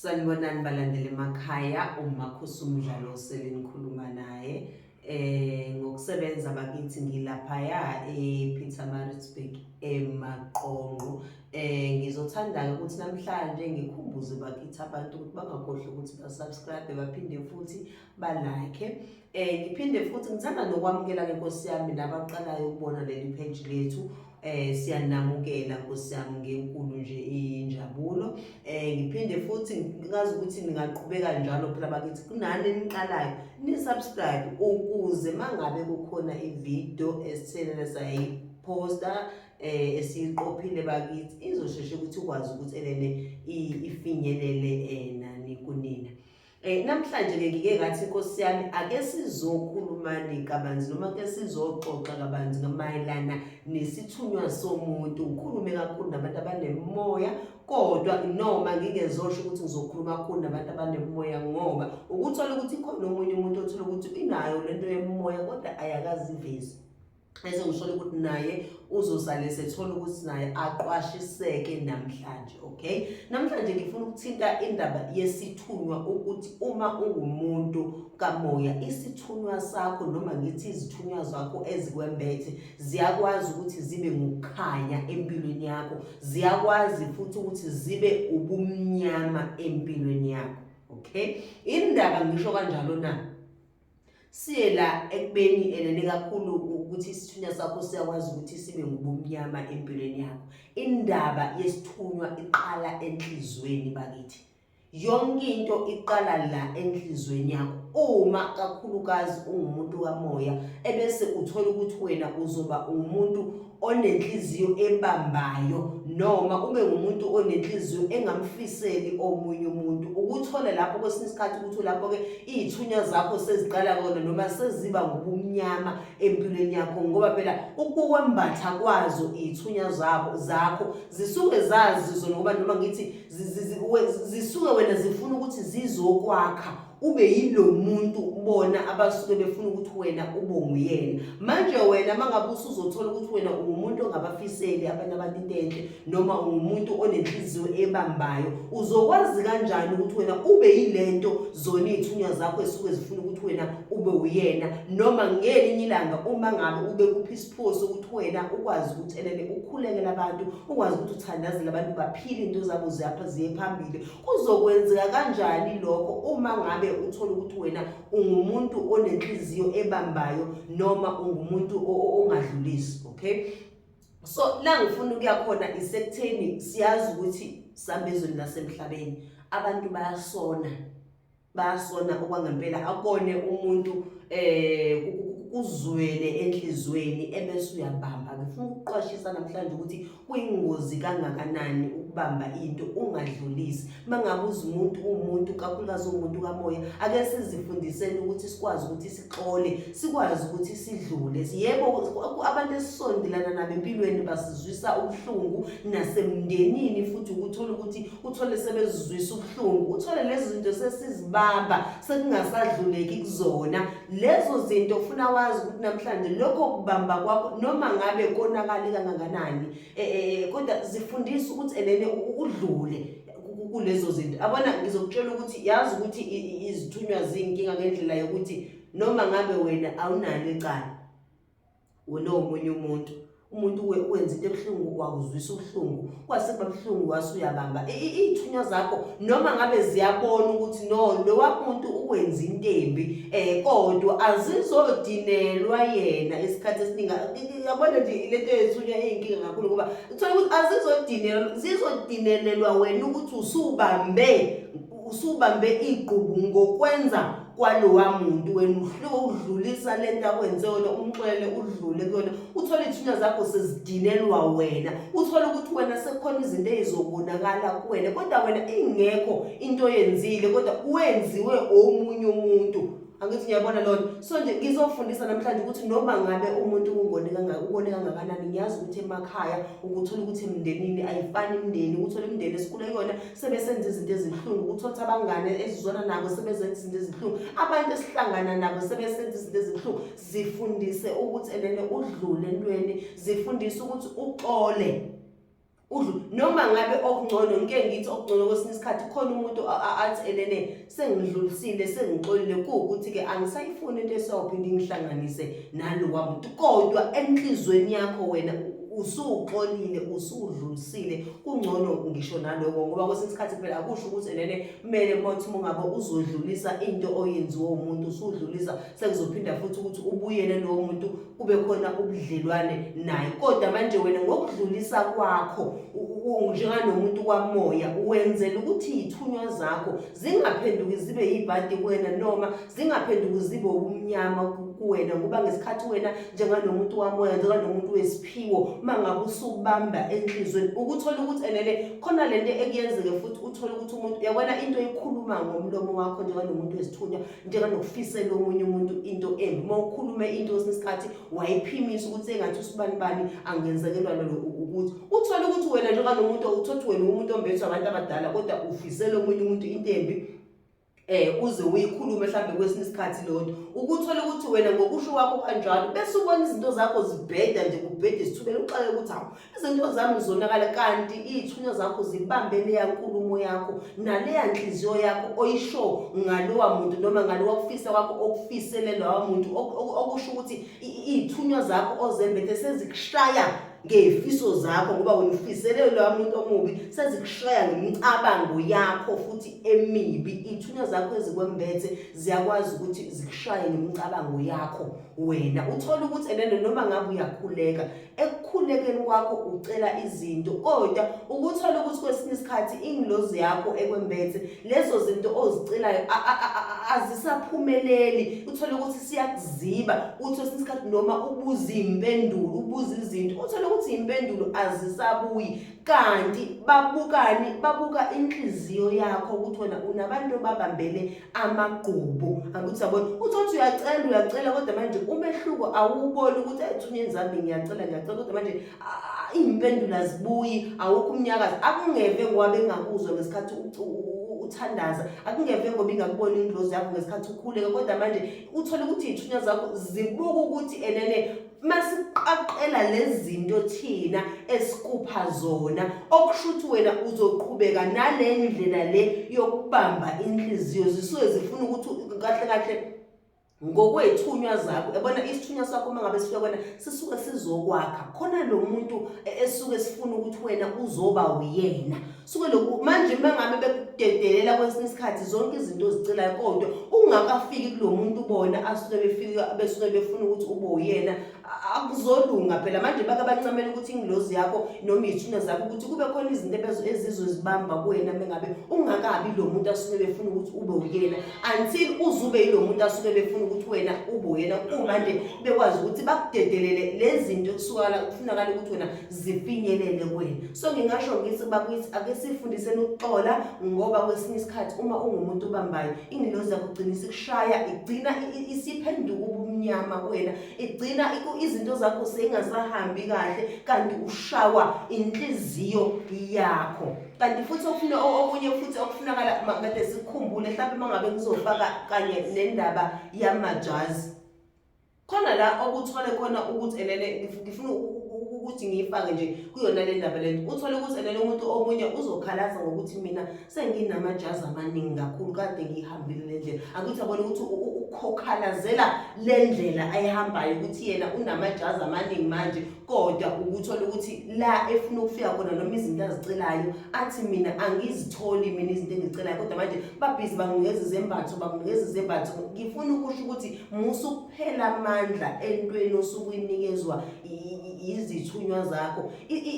Sanibonani balandeli emakhaya umakhosi umdlalo selinikhuluma naye eh ngokusebenza bakithi ngilaphaya ePietermaritzburg emaqonqo eh ngizothanda ukuthi namhlanje ngikhumbuze bakithi abantu ukuthi bangakhohlwa ukuthi ba subscribe baphinde futhi ba like eh ngiphinde futhi ngithanda nokwamukela ke Nkosi yami nabaqalayo ukubona leli page lethu Eh siyanamukela Nkosi yami ngenkulu nje injabulo. Eh ngiphinde futhi ngazi ukuthi ningaqhubeka njalo phela bakithi kunani niqalayo ni subscribe ukuze mangabe kukhona ivideo esithenele sayi posta eh esiqophile bakithi izosheshe ukuthi ukwazi ukuthi elele ifinyelele eh nani kunina. Eh namhlanje ke ngike ngathi inkosi yami ake sizokhulumani kabanzi noma ke sizoxoxa kabanzi ngamayelana nesithunywa somuntu ngikhulume kakhulu nabantu abanemoya kodwa noma ngingezosho ukuthi ngizokhuluma kakhulu nabantu abanemoya ngoba ukuthola ukuthi khona omunye umuntu othola ukuthi inayo lento yemoya kodwa ayakazivezi bese ngisholo ukuthi naye uzosale sethola ukuthi naye aqwashiseke namhlanje okay namhlanje ngifuna ukuthinta indaba yesithunywa ukuthi uma ungumuntu kamoya isithunywa sakho noma ngithi izithunywa zakho ezikwembethe ziyakwazi ukuthi zibe ngokukhanya empilweni yakho ziyakwazi futhi ukuthi zibe ubumnyama empilweni yakho okay indaba ngisho kanjalo na siye la ekubeni elele kakhulu ukuthi isithunywa sakho siyakwazi ukuthi sibe ngubumnyama empilweni yakho indaba yesithunywa iqala enhlizweni bakithi yonke into iqala la enhlizweni yakho uma kakhulukazi ungumuntu kamoya ebese uthola ukuthi wena uzoba umuntu onenhliziyo ebambayo noma ube ngumuntu onenhliziyo engamfiseli omunye umuntu ukuthola lapho kwesinye isikhathi ukuthi lapho ke izithunywa zakho seziqala kona noma seziba ngobumnyama empilweni yakho ngoba phela ukukwembatha kwazo izithunywa zabo zakho zisuke zazi zona ngoba noma ngithi zisuke wena zifuna ukuthi zizokwakha ube yilo muntu bona abasuke befuna ukuthi wena ube nguyena manje wena mangabe usuzothola ukuthi wena ungumuntu ongabafiseli abantu abantu into enhle noma ungumuntu onenhliziyo ebambayo uzokwazi kanjani ukuthi wena ube yilento zona iy'thunywa zakho esuke zifuna ukuthi wena ube uyena noma ngelinye ilanga uma ngabe ube kuphi isiphoso ukuthi wena ukwazi ukuthi elele ukhulekela abantu ukwazi ukuthi uthandazele abantu baphile into zabo ziyapha ziye phambili Kuzokwenzeka kanjani lokho uma ngabe uthola ukuthi wena ungumuntu onenhliziyo ebambayo noma ungumuntu ongadlulisi okay so la ngifuna ukuya khona isekutheni siyazi ukuthi sambezweni lasemhlabeni abantu bayasona bayasona okwangempela akone umuntu eh kuzwele enhlizweni ebese uyabamba ngifuna ukuqwashisa namhlanje ukuthi kuyingozi kangakanani ukubamba into ungadlulisi mangabe uzimuntu umuntu kakhulukazi umuntu kamoya ake sizifundiseni ukuthi sikwazi ukuthi sixole sikwazi ukuthi sidlule yebo abantu esisondelana nabo empilweni basizwisa ubuhlungu nasemndenini futhi ukuthola ukuthi uthole sebezizwisa ubuhlungu uthole lezi zinto sesizibamba sekungasadluleki kuzona lezo zinto ufuna wazi ukuthi namhlanje lokho kubamba kwakho noma ngabe konakali kangakanani e, e, e, kodwa zifundisa ukuthi elene udlule kulezo zinto abona ngizokutshela ukuthi yazi ukuthi izithunywa zinkinga ngendlela yokuthi noma ngabe wena awunalo icala wena omunye umuntu umuntu wenza into ebuhlungu wakuzwisa ubuhlungu kwasekuba buhlungu wase uyabamba iy'thunywa zakho noma ngabe ziyabona ukuthi no lo wamuntu ukwenza into embi um kodwa azizodinelwa yena isikhathi esiningi yabona nje lento yethunywa iy'nkinga kakhulu ngoba kuthola ukuthi azizodinelwa zizodinelelwa wena ukuthi usubambe usubambe igqubu ngokwenza kwalowa muntu wena uhluke udlulisa le nto akwenze yona umxwele udlule kuyona uthole iy'thunywa zakho sezidinelwa wena uthole ukuthi wena sekukhona izinto ey'zobonakala kuwena kodwa wena ingekho into oyenzile kodwa wenziwe omunye umuntu angithi ngiyabona lona so nje ngizofundisa namhlanje ukuthi noma ngabe umuntu ungone ungone kangakanani ngiyazi ukuthi emakhaya ukuthola ukuthi emndenini ayifani imndeni uthole imndeni esikhule kuyona sebesenza izinto ezibuhlungu ukuthi othi abangane ezizwana nabo sebezenza izinto ezibuhlungu abantu esihlangana nabo sebesenza izinto ezibuhlungu zifundise ukuthi elene udlule entweni zifundise ukuthi uxole udlu noma ngabe okungcono ngike ngithi okungcono kwesinye isikhathi khona umuntu athi elene sengidlulisile sengixolile kuwukuthi-ke angisayifuni into esawuphinde ingihlanganise nalowa muntu kodwa enhlizweni yakho wena usuxolile usudlulisile kungcono ngisho naloko ngoba kwesinye isikhathi phela akusho ukuthi enene kumele mothi uma ungabe uzodlulisa into oyenziwe umuntu usudlulisa sekuzophinda futhi ukuthi ubuyele lowo muntu kube khona ubudlelwane naye kodwa manje wena ngokudlulisa kwakho njenganomuntu kwamoya wenzela ukuthi iy'thunywa zakho zingaphenduki zibe yibhadi kuwena noma zingaphenduki zibe ubumnyama kuwena ngoba ngesikhathi wena njenganomuntu wamoya njenganomuntu wesiphiwo uma ngabe usukubamba enhlizweni ukuthola ukuthi enele khona le nto ekuyenzeke futhi uthole ukuthi umuntu yabona into ekhuluma ngomlomo wakho njenganomuntu wesithunywa njenganokufisela omunye umuntu into embi uma ukhulume into kwesinye isikhathi wayiphimisa ukuthi engathi usibani bani angenzekelwa lolo ukuthi uthole ukuthi wena njenganomuntu uthothi wena umuntu ombethwe abantu abadala kodwa ufisela omunye umuntu into embi eh uze uyikhulume mhlambe kwesinye isikhathi lonto ukuthola ukuthi wena ngokusho kwakho kanjalo bese ubona izinto zakho zibheda nje kubhede sithubela uxake ukuthi awu izinto zami zonakala kanti iy'thunywa zakho zibambe leya nkulumo yakho naleya nhliziyo yakho oyisho ngalowa muntu noma ngalowa kufisa kwakho okufisele lowa muntu okusho ukuthi iy'thunywa zakho ozembethe sezikushaya ngefiso zakho ngoba wena ufisele lowa muntu omubi sezikushaya ngemicabango yakho futhi emibi iy'thunywa zakho ezikwembethe ziyakwazi ukuthi zikushaye ngemicabango yakho wena uthole ukuthi enene noma ngabe uyakhuleka ekukhulekeni kwakho ucela izinto kodwa ukuthola ukuthi kwesinye isikhathi ingilozi yakho ekwembethe lezo zinto ozicelayo azisaphumeleli uthole ukuthi siyakuziba uthi kwesinye isikhathi noma ubuza iy'mpendulo ubuza izinto uthole ukuthi iy'mpendulo azisabuyi kanti babukani babuka inhliziyo yakho ukuthi wena unabantu obabambele amagqubu angithi sabona uthothi uyacela uyacela kodwa manje umehluko awuboni ukuthi ayithunya enzambi ngiyacela ngiyacela kodwa manje iy'mpendulo azibuyi awukho umnyakazi akungeve ngoba bengakuzwa ngesikhathi uthandaza akungeve ngoba ingakubona indlozi yakho ngesikhathi ukhuleka kodwa manje uthole ukuthi iy'thunya zakho zibuka ukuthi enene masiqaqela lezinto thina esikupha zona okushuthi wena uzoqhubeka nale ndlela le yokubamba inhliziyo zisuke zifuna ukuthi kahle kahle ngokwethunywa zakho yabona isithunywa sakho uma ngabe sifika kwena sisuke sizokwakha khona lo muntu e, esuke sifuna ukuthi wena uzoba uyena suke lokhu manje uma ngabe bekudedelela kwesinye isikhathi zonke izinto ozicelayo kodwa ungakafiki kulo muntu ubona asuke befika besuke befuna ukuthi ube uyena akuzolunga phela manje bake bancamela ukuthi ingilozi yakho noma iy'thuna zakho ukuthi kube khona izinto ebezo ezizozibamba kuwena mengabe ungakabi lo muntu asuke befuna ukuthi ube uyena until uzube yilo muntu asuke befuna ukuthi wena ube uyena kumanje bekwazi ukuthi bakudedelele lezi zinto kusuka la kufunakala ukuthi wena zifinyelele kuwena so ngingasho ngithi bakithi ake sifundiseni ukuxola ngoba kwesinye isikhathi uma ungumuntu obambayo ingilozi yakho ugcina isikushaya igcina isiphenduka ubumnyama kuwena igcina izinto zakho seyingasahambi kahle kanti ushawa inhliziyo yakho kanti futhi okufuna okunye futhi okufunakala kade sikhumbule mhlawumbe uma ngabe ngizofaka kanye nendaba yamajazi khona la okuthole khona ukuthi elele ngifuna ukuthi ngiyifake nje kuyona le ndaba lento uthole ukuthi elele umuntu omunye uzokhalaza ngokuthi mina senginamajazi amaningi kakhulu kade ngiyihambile le ndlela akuthi abone ukuthi ukukhalazela le ndlela ayihambayo ukuthi yena unamajazi amaningi manje kodwa ukuthola ukuthi la efuna ukufika khona noma izinto azicelayo athi mina angizitholi mina izinto engizicelayo kodwa manje babhizi banginikeza izembatho banginikeza izembatho ngifuna ukusho ukuthi musa ukuphela amandla entweni osukuyinikezwa yizithunywa zakho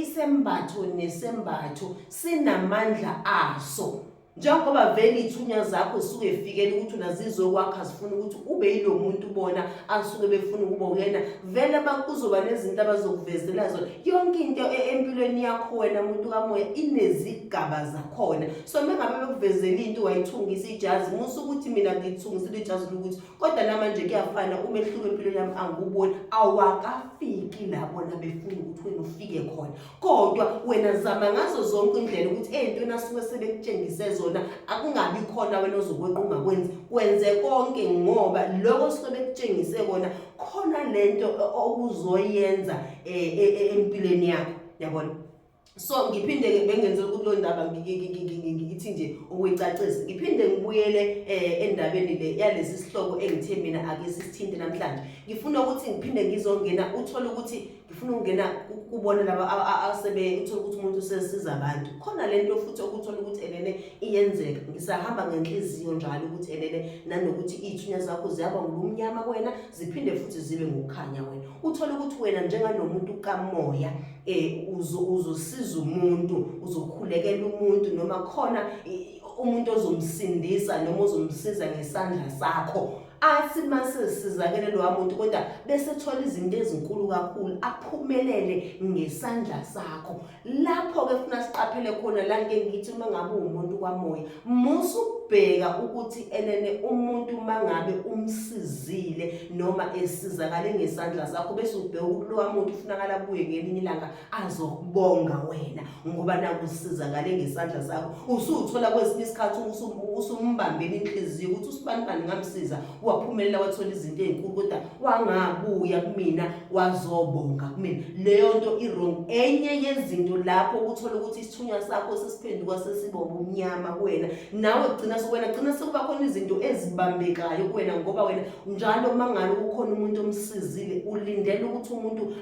isembatho nesembatho sinamandla aso njengoba vele ithunya zakho suke efikele ukuthi unazizokwakha zifuna ukuthi ube yilo muntu ubona asuke befuna ukuba uyena vele bakuzoba nezinto abazokuvezela zona yonke into e-, empilweni yakho wena muntu kamoya inezigaba zakhona so mengabe bekuvezela into wayithungisa ijazi musa ukuthi mina ngithungisile ijazi lokuthi kodwa namanje kuyafana umehluko empilweni yami anguboni awakafiki labo nabefuna ukuthi wena ufike khona kodwa wena zama ngazo zonke indlela ukuthi ey'ntweni asuke sebekutshengise zona akungabi khona wena ozokwenqa ungakwenzi kwenze konke ngoba loko suke bekutshengise kona khona le nto okuzoyenza um empilweni yakho yabona so ngiphinde-ke bengenze ukuthi lo ndaba ngithi nje ukuyicacisa ngiphinde ngibuyele um endabeni le yalesi sihloko engithe mina ake sisithinte namhlanje ngifuna ukuthi ngiphinde ngizongena uthole ukuthi ngifuna ukungena kubona laba asebe uthole ukuthi umuntu usesiza abantu khona le nto futhi okuthole ukuthi elene iyenzeka ngisahamba ngenhliziyo njalo ukuthi elene nanokuthi iy'thunya zakho ziyaba ngubumnyama kwena ziphinde futhi zibe ngokukhanya wena uthole ukuthi wena njenganomuntu kamoya eh uzosiza umuntu uzokhulekela umuntu noma khona umuntu ozomsindisa noma ozomsiza ngesandla sakho athi mase sizakele lo muntu kodwa bese thola izinto ezinkulu kakhulu aphumelele ngesandla sakho lapho ke funa siqaphele khona la ngeke ngithi uma ngabe umuntu kwamoya Musa ukubheka ukuthi enene umuntu mangabe umsizile noma esizakale ngesandla sakho bese ubheka ukuthi lowa muntu ufunakala kuye ngelinye ilanga azokubonga wena ngoba naku usizakale ngesandla sakho usuthola kwesinye isikhathi usumbambela inhliziyo ukuthi usibanibani ngamsiza waphumelela wathola izinto ezinkulu kodwa wangabuya kumina wazobonga kumina leyo nto i-wrong enye yezinto lapho uthola ukuthi isithunywa sakho sesiphenduka sesiba ubumnyama kuwena nawe gcina sewena gcina sekuba khona izinto ezibambekayo kuwena ngoba wena njalo uma ngabe kukhona umuntu omsizile ulindele ukuthi umuntu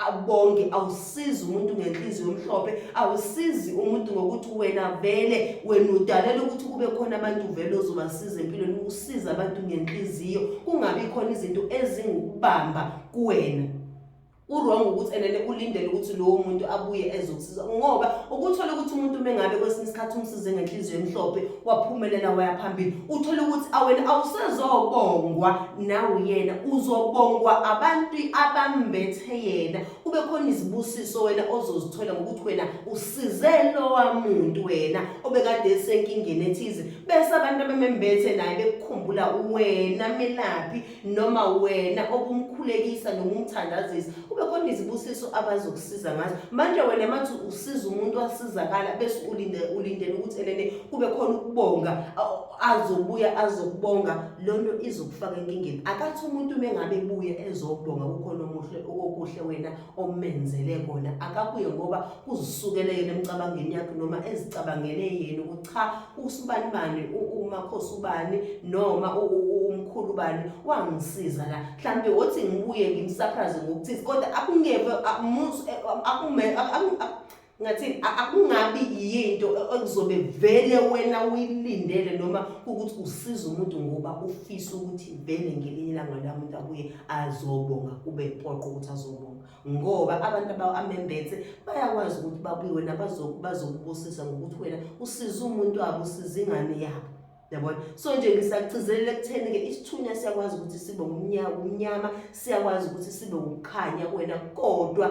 abonge awusizi umuntu ngenhliziyo omhlophe awusizi umuntu ngokuthi wena vele wena udalela ukuthi kube khona abantu vele ozobasiza empilweni usiza abantu ngenhliziyo kungabi khona izinto ezingukubamba kuwena uwrong ukuthi enene ulindele ukuthi lowo muntu abuye ezokusiza ngoba ukuthola ukuthi umuntu uma engabe kwesinye isikhathi umsize ngenhliziyo emhlophe waphumelela waya phambili uthole ukuthi awena awusezobongwa nawe yena uzobongwa abantu abambethe yena kube khona izibusiso wena ozozithola ngokuthi wena usize lowa muntu wena obekade esenkingeni ethize bese abantu abamembethe naye bekukhumbula wena melaphi noma wena obumkhulekisa noma umthandazisa kube khona izibusiso abazokusiza ngazo manje wena mathi usiza umuntu wasizakala bese ulinde ulindele ukuthi enene kube khona ukubonga azobuya azokubonga lonto izokufaka enkingeni akathi umuntu mengabe buye ezobonga kukhona omuhle okuhle wena omenzele kona akabuye ngoba uzisukele yena emcabangeni yakhe noma ezicabangele yena ukuthi cha usibani bani umakhosi ubani noma umkhulu ubani wangisiza la mhlampe wothi ngibuye ngimsurprise ngokuthi kodwa akungeve amuzi akume ngathini akungabi yinto ekuzobe vele wena uyilindele noma ukuthi usiza umuntu ngoba ufisa ukuthi vele ngelinye ilanga la muntu abuye azobonga kube poqo ukuthi azobonga ngoba abantu abamembethe bayakwazi ukuthi babuye wena bazokubusisa ngokuthi wena usiza umuntu wabo usiza ingane yabo yabona so nje ngisagcizelela ekutheni-ke isithunywa siyakwazi ukuthi sibe umnyama siyakwazi ukuthi sibe ukukhanya kuwena kodwa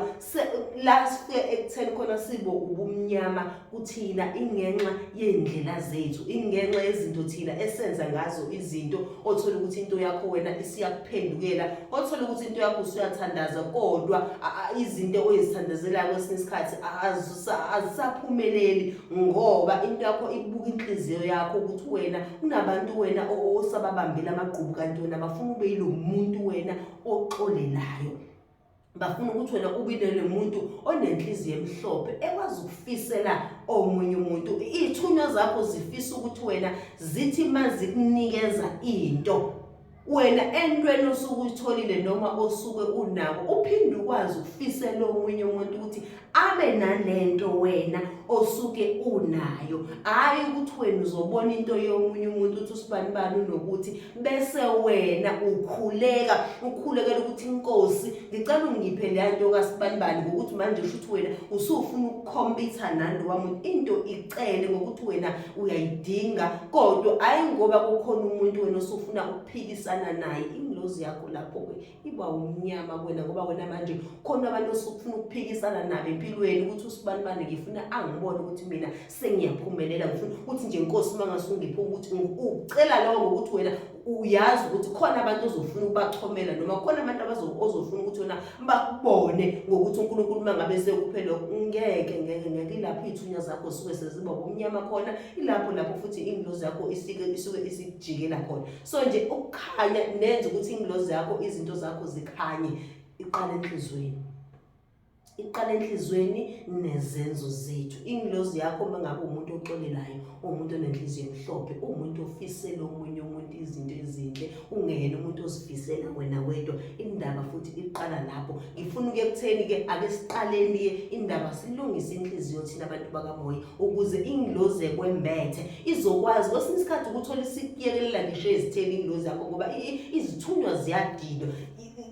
la sifike ekutheni khona sibe ubumnyama kuthina ingenxa yey'ndlela zethu ingenxa yezinto thina esenza ngazo izinto othole ukuthi into yakho wena isiyakuphendukela othole ukuthi into yakho usuyathandaza kodwa izinto oyizithandazelayo kwesinye isikhathi azisaphumeleli ngoba into yakho ibuka inhliziyo yakho ukuthi wena unabantu wena osababambile amagqubu kanti wena bafuna ube yilo muntu wena oxolelayo bafuna ukuthi wena ubinele muntu onenhliziyo emhlophe ekwazi ukufisela omunye umuntu ithunywa zakho zifisa ukuthi wena zithi mazikunikeza into wena entweni osuke uyitholile noma osuke unako uphinde ukwazi ukufisela omunye umuntu ukuthi abe nalento wena osuke unayo hayi ukuthi wena uzobona into yomunye umuntu ukuthi usibani bani unokuthi bese wena ukhuleka ukhulekela ukuthi inkosi ngicela ungiphe leya nto kasibani bani ngokuthi manje usho ukuthi wena usufuna ukukhompitha nani wamuntu into icele ngokuthi wena uyayidinga kodwa ayi ngoba kukhona umuntu wena osufuna ukuphikisana naye ingilozi yakho lapho ke iba umnyama kwena ngoba wena manje khona abantu osufuna ukuphikisana nabo empilweni ukuthi usibani bani ngifuna angibone ukuthi mina sengiyaphumelela ngifuna ukuthi nje inkosi uma ngasungiphi ukuthi ucela lowo ngokuthi wena uyazi ukuthi khona abantu ozofuna ukubachomela noma khona abantu ozofuna ukuthi wena bakubone ngokuthi uNkulunkulu mangabe sekuphele ngeke ngeke ngeke ilapho ithunya zakho suke seziba kumnyama khona ilapho lapho futhi ingilozi yakho isike isuke isijikela khona so nje ukukhanya nenza ukuthi ingilozi yakho izinto zakho zikhanye iqala enhlizweni iqala enhliziyweni nezenzo zethu ingilozi yakho uma ngabe umuntu oxolelayo uwumuntu onenhliziyo emhlophe uwumuntu ofisela omunye umuntu izinto ezinhle ungeyena umuntu ozifisela wena wedwa indaba futhi iqala lapho ngifuna uke kutheni-ke ake siqaleni-ke indaba silungise inhliziyo thina abantu bakamoya ukuze ingilozi ekwembethe izokwazi kwesinye isikhathi ukuthola isikuyekelela ngisho ezitheni ingilozi yakho ngoba izithunywa ziyadidwa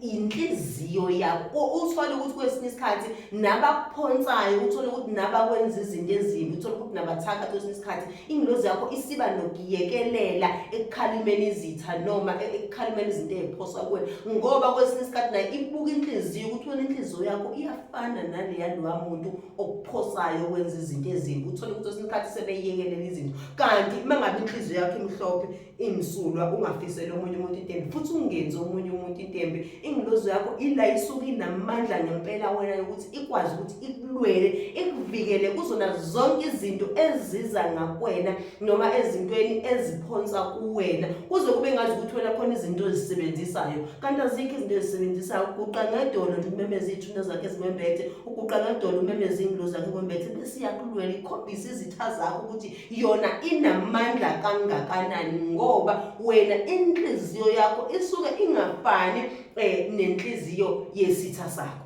inhliziyo yakho uthole ukuthi kwesinye isikhathi nabakuphonsayo uthole ukuthi nabakwenza izinto ezimbi uthole ukuthi nabathaka kwesinye isikhathi ingilozi yakho isiba nokuyekelela ekukhalimeni izitha noma e-, ekukhalimeni izinto eziphoswa kuwe ngoba kwesinye isikhathi naye ibuka inhliziyo ukuthi wena inhliziyo yakho iyafana naleya lowa muntu okuphosayo okwenza izinto ezimbi uthole ukuthi kwesinye isikhathi sebeyekelela izinto kanti uma ngabe inhliziyo yakho imhlophe imsulwa ungafiseli omunye umuntu itembe futhi ungenzi omunye umuntu itembe ingilozo yakho ila isuke inamandla ngempela wena yokuthi ikwazi ukuthi ikulwele ikuvikele kuzona zonke izinto eziza ngakwena noma ezintweni eziphonsa kuwena kuze kube ngazi ukuthi wena khona izinto ezisebenzisayo kanti azikho izinto ezisebenzisayo uguqa ngedolo nje umemeza iy'thuna zakhe ezimembethe uguqa ngedolo umemeza iy'ngilozi zakhe kwembethe bese iyakulwela ikhombisa izitha zakho ukuthi yona inamandla kangakanani ngoba wena inhliziyo yakho isuke ingafani eh nenhliziyo yesitha sakho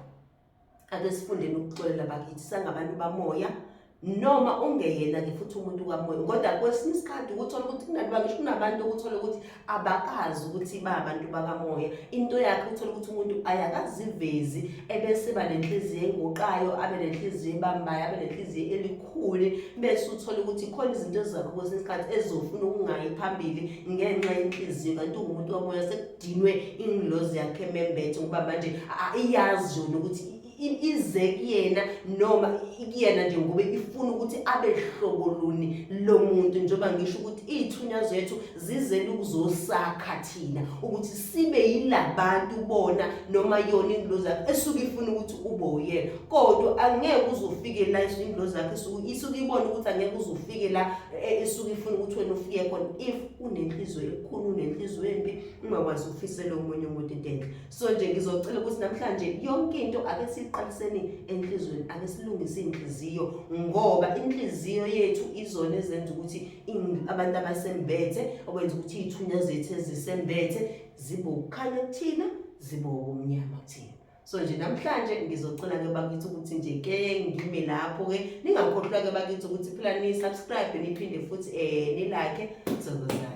ake sifundeni ukuxolela bakithi sangabantu bamoya noma ungeyena ke futhi umuntu kamoya kodwa kwesinye isikhathi ukuthola ukuthi kungathi bangisho kunabantu ukuthola ukuthi abakazi ukuthi ba abantu bakamoya into yakhe uthola ukuthi umuntu ayakazivezi ebese ba nenhliziyo enguqayo abe nenhliziyo ebambayo abe nenhliziyo elikhulu bese uthola ukuthi khona izinto ezakho kwesinye isikhathi ezofuna ukungayi phambili ngenxa yenhliziyo kanti ungumuntu wamoya sekudinwe ingilozi yakhe membethe ngoba manje iyazi yona ukuthi ize kuyena noma kuyena nje ngoba ifuna ukuthi abe hlobo luni lo muntu njengoba ngisho ukuthi iy'thunywa zethu zizele ukuzosakha thina ukuthi sibe yilabantu bona noma yona ingilozi yakho esuke ifuna ukuthi ube uyena kodwa angeke uzofike la ingilozi yakho isuke ibona ukuthi angeke uzofike la e, esuke ifuna ukuthi wena ufike khona if unenhliziyo ekhulu unenhliziyo embi ungakwazi ukufisela omunye umuntu into enhle so nje ngizocela ukuthi namhlanje yonke into ake siqaliseni enhlizweni ake silungise inhliziyo ngoba inhliziyo yethu izona ezenza ukuthi abantu abasembethe okwenza ukuthi ithunya zethu ezisembethe zibe ukukhanya kuthina zibe ubumnyama kuthina so nje namhlanje ngizocela ke bakithi ukuthi nje ke ngime lapho ke ningakhohlwa ke bakithi ukuthi phela ni subscribe niphinde futhi eh nilike sokuzana